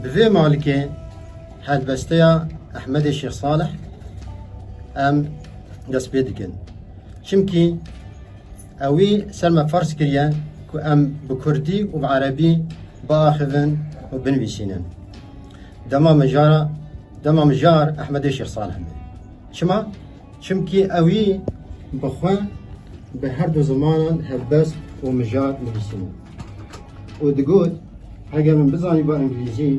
Bi vê malikê helbesteya Ehmedê Şêx Salih em dest pê dikin. Çimkî ewî ser me farz kiriye ku em bi Kurdî û bi Erebî biaxivin û binivîsînin. Dema min jara dema min jar Ehmedê Şêx Salih me. Çima? Çimkî ewî bi xwe bi her du zimanan helbest û mijar nivîsîbû û digot, Heger min bizanîba îngilîzî,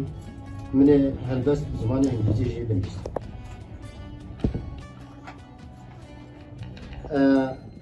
min ê helbest bi zimanê îngilîzî jî binivîsîbû.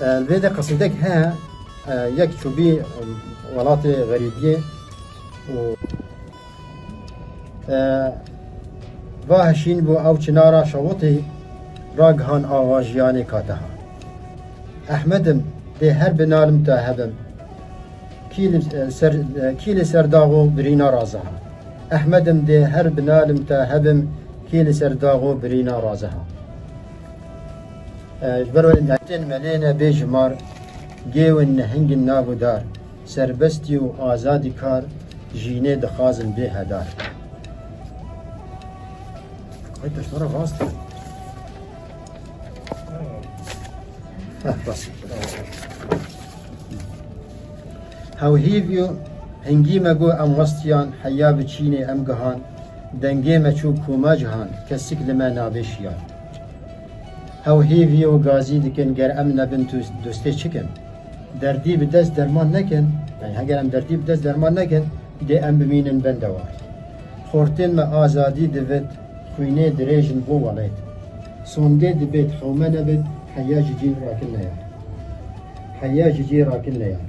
Li vê de qismdek heye yek çûbî welatê xerîbiyê û va hişîn bû ew çinara şewitî ragihan ava jiyanê kateha. Ehmedim dê her bi nalim ta hebim. Kî li ser dax û birîna raziha. Ehmedim dê her bi nalim ta hebim kî li ser dax û birîna raziha. Ji ber wê netên melê ne bê jimar, gêwin nehingin nav û dar, serbestî û azadî kar, jînê dixwazin bê hedar. Hewhîv û hingî me got em westiyan, heya bi çînê em gihan, dengê me çû koma cihan, kesik li me nabê şiyan. Ew hêvî û gazî dikin ger em nebin dostê çikin? Derdî bi dest derman nekin, yani heger em derdî bi dest derman nekin dê em bimînin bende wan. Xortên me azadî divit, xwînê dirêj in bo welêt. Sondê dibêt hewme nebit heya ji cî rakin neyar. Heya ji cî rakin neyar.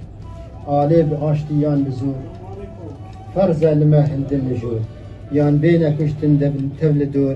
Alê bi aştî yan bi zor. Ferz e li me hindin li jor. Yan bêne kuştin debin tev li dor.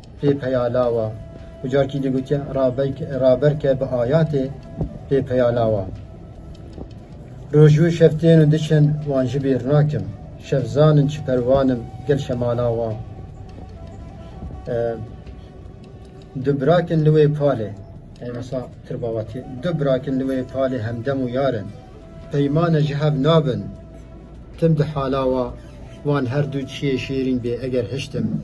pê peya lawa û carkî dî gotiye raber ke bi ayatê pê peya lawa. Rojû şev tên û diçin wan ji bîr nakim. Şev zanin çi perwanim gel şemala wan. Du birakin li wê palê Ey wisa tirbawatî Du birakin li wê palê hemdem û yar in. Peymane ji hev nabin tim di hala wa wan her du çiyê şêrîn bê eger hiştim.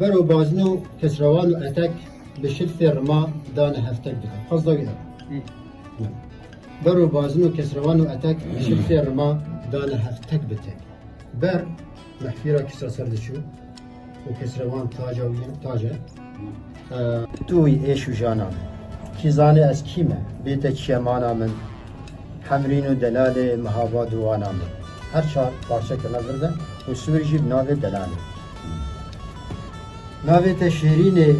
Ber û bazin û kesrewan û etek bi şilfê rima dane heftek dike. Qasda wî e. Ber û bazin û kesrewan û etek bi şilfê rima dane heftek bi tek. Ber mehfîra kisa ser diçû û kesrewan taca wî tace. Tu wî êş û jana min. Kî zanê ez kî me? Bête çiye mana min. Hemrîn û delalê mihava dû wana min. Her çar parçeke me vir de û sûr jî bi navê delalê. Navê te şêrîn e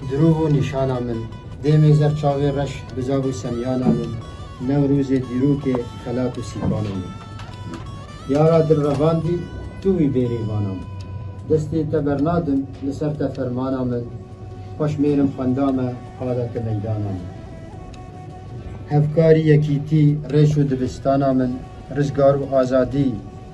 dirov û nîşana min. Dêmê zer çavê reş bizav û semyana min. Newrozê dîrok e xelat û sîkana min. Yara dil revandî tu wî bêrê vana min. Destê te bernadim li ser te fermana min. Xweş mêrim xwenda me qada te meydana min. Hevkarî yekîtî rêş û dibistana min. Rizgar û azadî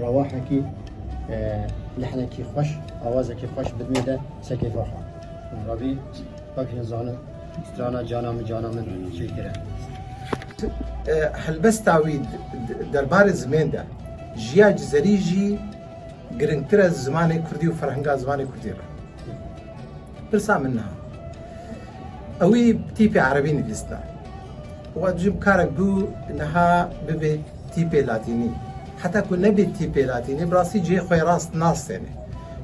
Rewahekî lehnekî xweş, awazekî xweş bi dinê de serkeyfa xwe. Rabî pak jin zanin strana cana min cana min çêk kire. Helbesta wî derbarê zimên de jiya cizerî jî girîngtir e zimanê kurdî û ferhenga zimanê kurdî re. Pirsa min niha. Ewî tîpê erebî nivîsna. Wa dijî bi karek bû niha bibê tîpê latînî. Heta ku nebê tîpê latînî bi rastî cihê xwe rast nas têne.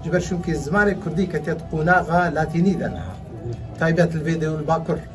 Ji ber çimkî zimanê kurdî ketiye di qonaxa latînî de niha. Taybet li vê dew li bakur.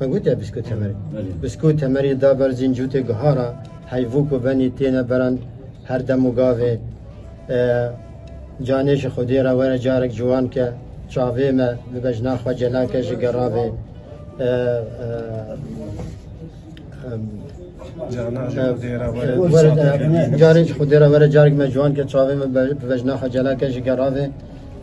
Me gotiya Bisko Temerê. Bisko Temerê da ber zîncûtê guha ra, heyvû ku venî têne beran her dem û gavê canê ji xwedê re were carek ciwan ke çavê me bibe jina xwe cela ke ji geravê carê ji xwedê re were carek me ciwan ke çavê me bibe jina xwe cela ke ji geravê